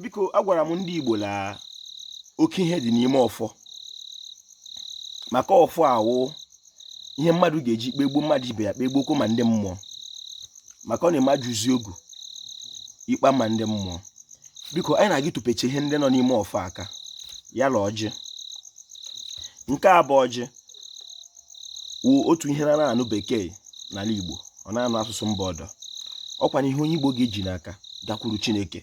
biko agwara m ndị Igbo la oke ihe dị n'ime ọfọ maka ọfọ awụ ihe mmadụ ga-eji kpegbuo mmadụ ibe ya kpegbuokwa ma ndị mmụọ maka onye mejuzie ogu ikpe ama ndị mmụọ biko anyị na-aga ịtụpecha ihe ndị nọ n'ime ọfọ aka ya la ọjị nke a bụ ọjị wụ otu ihe na-anaghị anụ bekee n'ala Igbo ọ naghị anụ asụsụ mba ọdọ ọkwanụ ihe onye Igbo ga-eji n'aka gakwuru Chineke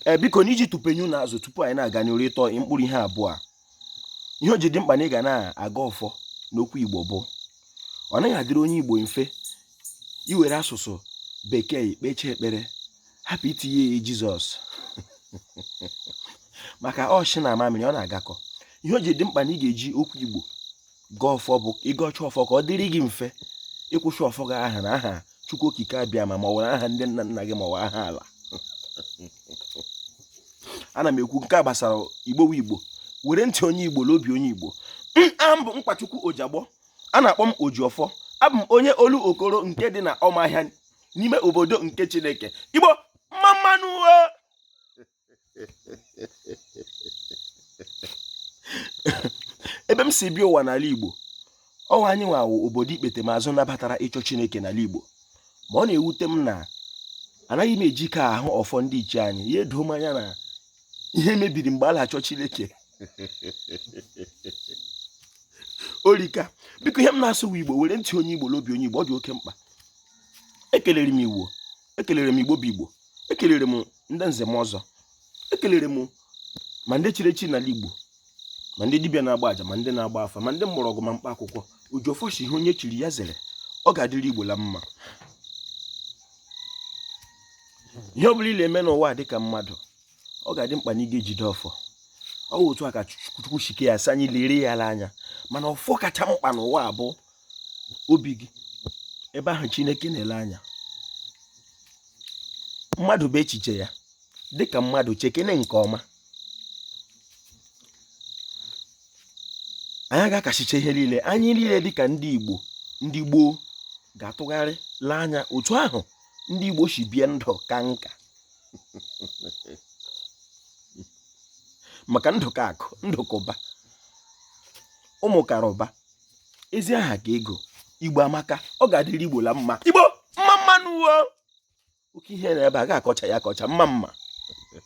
ee biko na iji tupenyu na azụ tupu anyị na-aga n'iru ịtọ mkpụrụ ihe abụọ a ihe o ji dị mkpa na ị ga na-agọ ọfọ n'okwu Igbo bụ ọ naghị adịrị onye Igbo mfe iwere asụsụ bekee kpechie ekpere hapụ itinye ya jizọs maka nshị na amamịrị ọ na-agakọ ihe o ji dị mkpa na ị ga-eji okwu igbo gọọ ọfọ bụ ị gọcha ọfọ ka ọ dịrị gị mfe ịkwụsị ọfọ gị ahụ n'aha chukwu okike abịama ma ọ were aha ndị nna nna gị ma ọ aha ala ana m ekwu nke a gbasara igbo igbo were ntị onye igbo na obi onye igbo abụ m nkwachukwu ojagbọ a na-akpọ m ojiọfọ abụ m onye olokoro nke dị na ọmahịa n'ime obodo nke chineke igbo mma mma nụ ebe m si bịa ụwa n'ala igbo ọ wụ anyị nwa wụ obodo ikpetemazụ nabatara ịchọ chineke n'ala igbo ma ọ na-ewute m na anaghị m eji ka ahụ ọfọ ndị ichie anyị ya edo m anya na ihe mebiri mgbe a na-achọ Chineke o rika biko ihe m na-asụ wụ Igbo were ntị onye Igbo la obi onye Igbo ọ dị oke mkpa ekelere m igbo ekelere m igbo bụ igbo ekelere m ndị nze na ọzọ ekelere m ma ndị chiri echi n'ala igbo ma ndị dibịa na-agba aja ma ndị na-agba afa ma ndị mgbọrọgwụ ma mkpa akwụkwọ ojiọfọ sị ihe onye chiri ya zere ọ ga-adịrị igbo la mma ihe ọ bụla ị na-eme n'ụwa dịka mmadụ ọ ga-adị mkpa na ị ga-ejide ọfọ ọ bụ otu a ka chukwu shi kee ya sị anyị lere ya anya mana ọfọ kacha mkpa n'ụwa bụ obi gị ebe ahụ chineke na-ele anya mmadụ bụ echiche ya dịka mmadụ chekene nke ọma anyị ga-akachicha ihe niile anyị niile dịka ndị igbo ndị gboo ga-atụgharị lee anya otu ahụ ndị igbo si bie ndụ kaa nka maka ndụ ka akụ ndụ ka ụba ụmụ kara ụba ezi aha ka ego igbo amaka ọ ga-adịrị igbo la mma igbo mma mma nụ wo oke ihe na ebe a ga-akọcha ya akọcha mma mma